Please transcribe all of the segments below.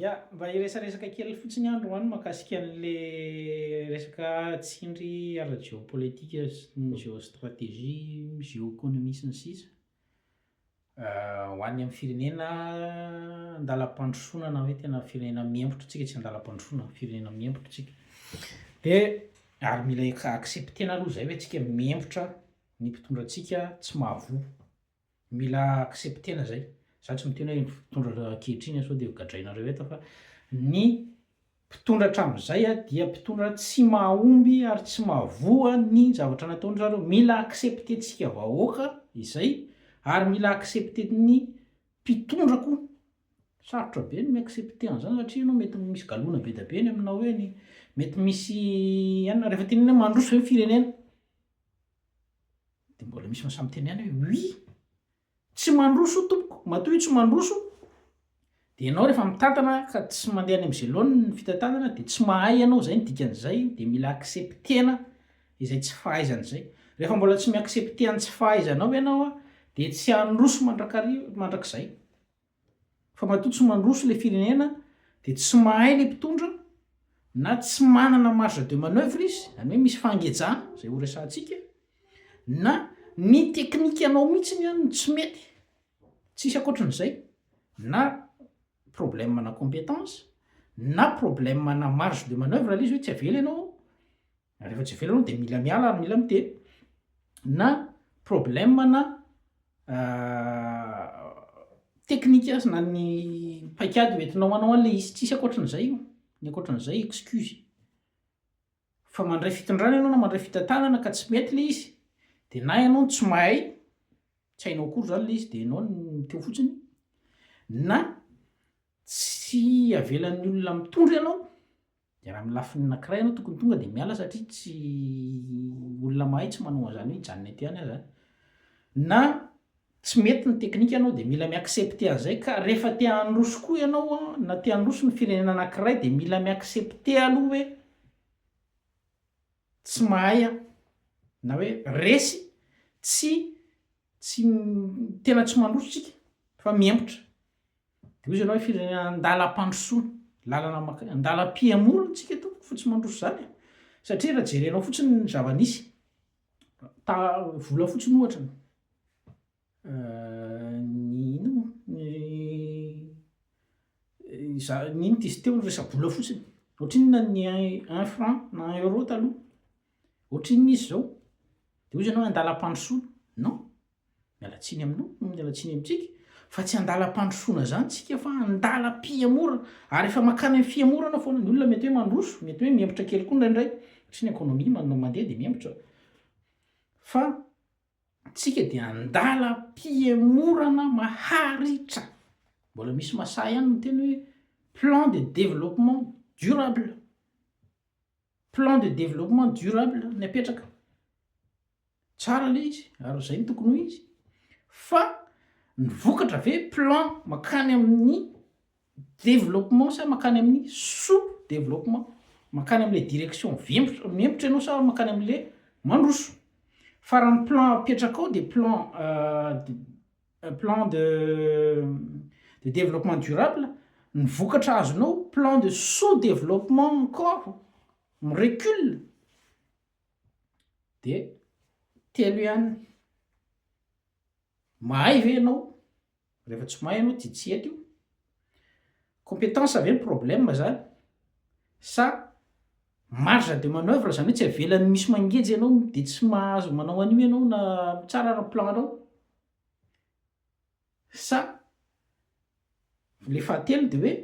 Ya, mba hiresaresaka kely fotsiny aho androany mahakasika an'le resaka tsindry ara-jeopolitika sy ny jeostrategie, jeoeconomie sy ny sisa Ho any amin'ny firenena an-dalam-pandrosoana na hoe tena firenena miembotra, tsika tsy an-dalam-pandrosoana, firenena miembotra tsika dia ary mila accepter-na aloha izay hoe tsika miembotra ny mpitondra antsika tsy mahavoa. Mila accepter-na zay. Za tsy miteny hoe ny mpitondra ankehitriny sao dia gadrainareo eto fa ny mpitondra hatramin'izay dia mpitondra tsy mahomby ary tsy mahavoa ny zavatra nataony zareo. Mila accepter-tsika vahoaka izay ary mila accepter-ny mpitondra koa. Sarotra be ny mi-accepter an'zany satria ianao mety misy galona be da be ny aminao eny, mety misy inona rehefa tenenina hoe mandroso ve ny firenena? De mbola misy mahasahy miteny ihany hoe oui, tsy mandroso io tompoko, matoa io tsy mandroso de ianao rehefa mitantana ka tsy mandeha any amin'izay laoniny ny fitantanana de tsy mahay ianao izay ny dikan'izay de mila accepter-na izay tsy fahaizana izay. Rehefa mbola tsy mi-accepter ny tsy fahaizanao ianao a de tsy handroso mandrakariva, mandrakizay. Fa matoa tsy mandroso ilay firenena dia tsy mahay ilay mpitondra na tsy manana marge de manoeuvre izy, izany hoe misy fangejana, izay horesahantsika, na ny teknikanao mihitsiny an no tsy mety, tsisy ankoatran'izay, na problème-na compétence, na problème-na marge de manoeuvre ilay izy hoe tsy avela ianao ao. Na rehefa tsy avela aloha dia mila miala ary mila miteny na problème na technique aza na ny paikady ho entinao hanao an'ilay izy, tsisy ankoatran'izay io, ny ankoatran'izay excuse. Fa mandray fitondrana ianao na mandray fitantanana ka tsy mety ilay izy dia na ianao no tsy mahay, tsy hainao akory izany ilay izy dia ianao no miteo fotsiny na tsy avelan'ny olona mitondra ianao Dia raha amin'ny lafiny anankiray ianao tokony tonga dia miala satria tsy olona mahay tsy manao an'izany hoe hijanona eto ihany aza an! Na tsy mety ny teknika ianao dia mila mi-accepter an'izay ka rehefa te handroso koa ianao an, na te handroso ny firenena anankiray dia mila mi-accepter aloha hoe tsy mahay aho na hoe resy tsy tsy tena tsy mandroso tsika fa mihemotra Dia hoy izy ianao firy andalam-pandrosoana, lalana makaiza, andalam-pihamoana tsika eto fa tsy mandroso izany e! satria raha jerenao fotsiny ny zava-nisy, vola fotsiny ohatra ny inona moa ny za- ny inona izy teo ny resa-bola fotsiny, ohatrinona ny un franc na un euro taloha, ohatrinona izy izao, dia hoy izy ianao andalam-pandrosoana, non. Miala tsiny aminao, miala tsiny amintsika, fa tsy an-dalam-pandrosoana izany isika fa an-dalam-pihamorana, ary efa mankany amin'ny fihamorana foana, ny olona mety hoe mandroso, mety hoe mihemotra kely koa indraindray, satria ny economie manana mandeha dia mihemotra, fa isika dia an-dalam-pihamorana maharitra, mbola misy masahy ihany miteny hoe plan de développement durable, plan de développement durable ny apetraka. Tsara ilay izy ary izay no tokony ho izy. Fa ny vokatra ve plan makany amin'ny développement sa makany amin'ny sous développement? Makany amin'ilay direction mihemotra ianao sa makany amin'ilay mandroso? Fa raha ny plan apetrakao dia plan euh, plan de de développement durable, ny vokatra azonao plan de sous développement encore, mi-recule. Dia telo ihany. Mahay ve ianao? Rehefa tsy mahay ianao dia tsy eto io. Compétence ve ny problème zany sa marge de manoeuvre zany hoe tsy avelany misy mangeja ianao dia tsy mahazo manao an'io ianao na mitsara ara-plan-nao? Sa le fahatelo de hoe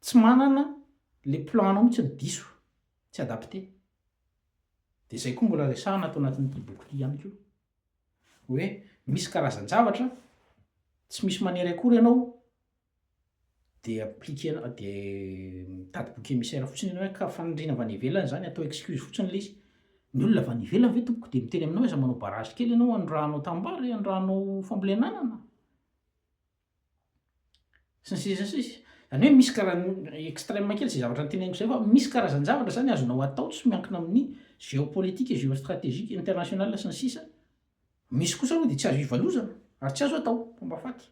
tsy manana le plan anao mihitsy ny diso, tsy adapte. De zay koa mbola resahana ato anatin'ity boky ity ihany koa. Hoe misy karazan-javatra tsy misy manery akory ianao de appliquer anao de mitady bouc émissaire fotsiny ianao ka faniriana avy any ivelany zany atao excuse fotsiny le izy, ny olona avy any ivelany ve tompoko de miteny aminao aza manao barrage kely ianao anondrahanao tanimbary, anondrahanao fambolena anana, sy ny sisa sy ny sisa, zany hoe misy kara extreme kely zay zavatra noteneniko zay fa misy karazan-javatra zany azonao atao tsy miankina amin'ny géopolitique, géostratégique, international sy ny sisa. Misy kosa aloha dia tsy azo ivalozana ary tsy azo atao, mpomba faty.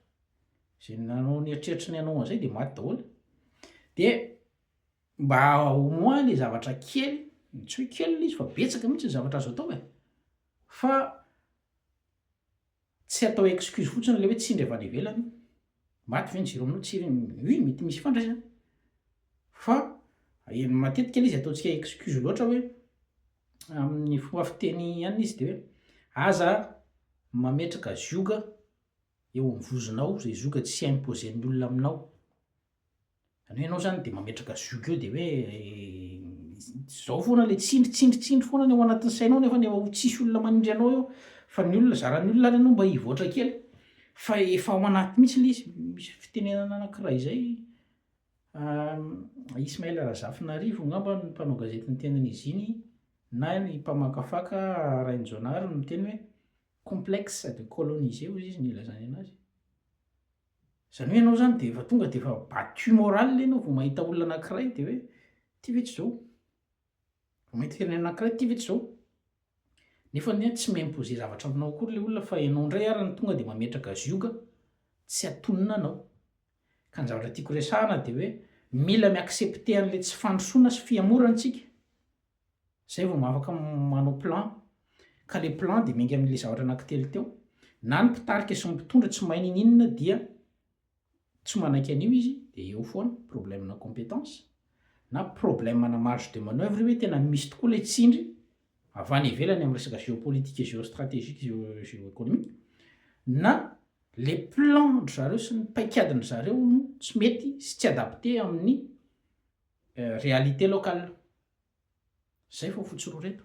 Izay nanao ny eritreritry ny hanao an'izay dia maty daholo. Dia mba au moins ilay zavatra kely, tsy hoe kely ilay izy fa betsaka mihitsy ny zavatra azo atao e! Fa tsy atao excuse fotsiny ilay hoe tsindry avy any ivelany, maty ve ny jiro aminao? Tsy, oui, mety misy ifandraisany. Fa matetika ilay izy ataontsika excuse loatra hoe amin'ny fomba fiteny ihany izy dia hoe aza mametraka zioga eo amin'ny vozonao izay zioga tsy imposer-ny olona aminao. Izany hoe ianao izany dia mametraka zioga eo dia hoe izao foana ilay tsindry tsindry tsindry foana ny ao anatin'ny sainao nefany efa ho tsisy olona manindry anao eo fa ny olona, zaran'ny olona ary ianao mba hivoatra kely fa efa ao anaty mihitsy ilay izy, misy fitenenana anankiray izay. Ismaël Razafinarivo angamba no mpanao gazety niteny an'izy iny na ny mpamakafaka Rainjonary no miteny hoe complexe de coloniser hoy izy no ilazany anazy. Izany hoe ianao izany dia efa tonga dia efa battu morale ianao vao mahita olona anankiray dia hoe ity ve tsy izao? Vao mahita firenena anankiray ity ve tsy izao? Nefa anie tsy mi-imposer zavatra aminao akory ilay olona fa ianao indray ary no tonga dia mametraka zioga tsy atonina anao. Ka ny zavatra tiako resahana dia hoe mila mi-accepter an'ilay tsy fandrosoana sy fihemorana isika, izay vao afaka manao plan, ka ilay plan dia miainga amin'ilay zavatra anankitelo teo, na ny mpitarika sy ny mpitondra tsy mahay niniana dia tsy manaiky an'io izy dia eo foana, problème-na compétence, na problème-na marge de manoeuvre hoe tena misy tokoa ilay tsindry avy any ivelany amin'ny resaka géopolitique et géostratégique et géoéconomique na le plan-dry zareo sy ny paikadin'dry zareo no tsy mety sy tsy adapté amin'ny réalité locale. Zay vao fotsy roa reto.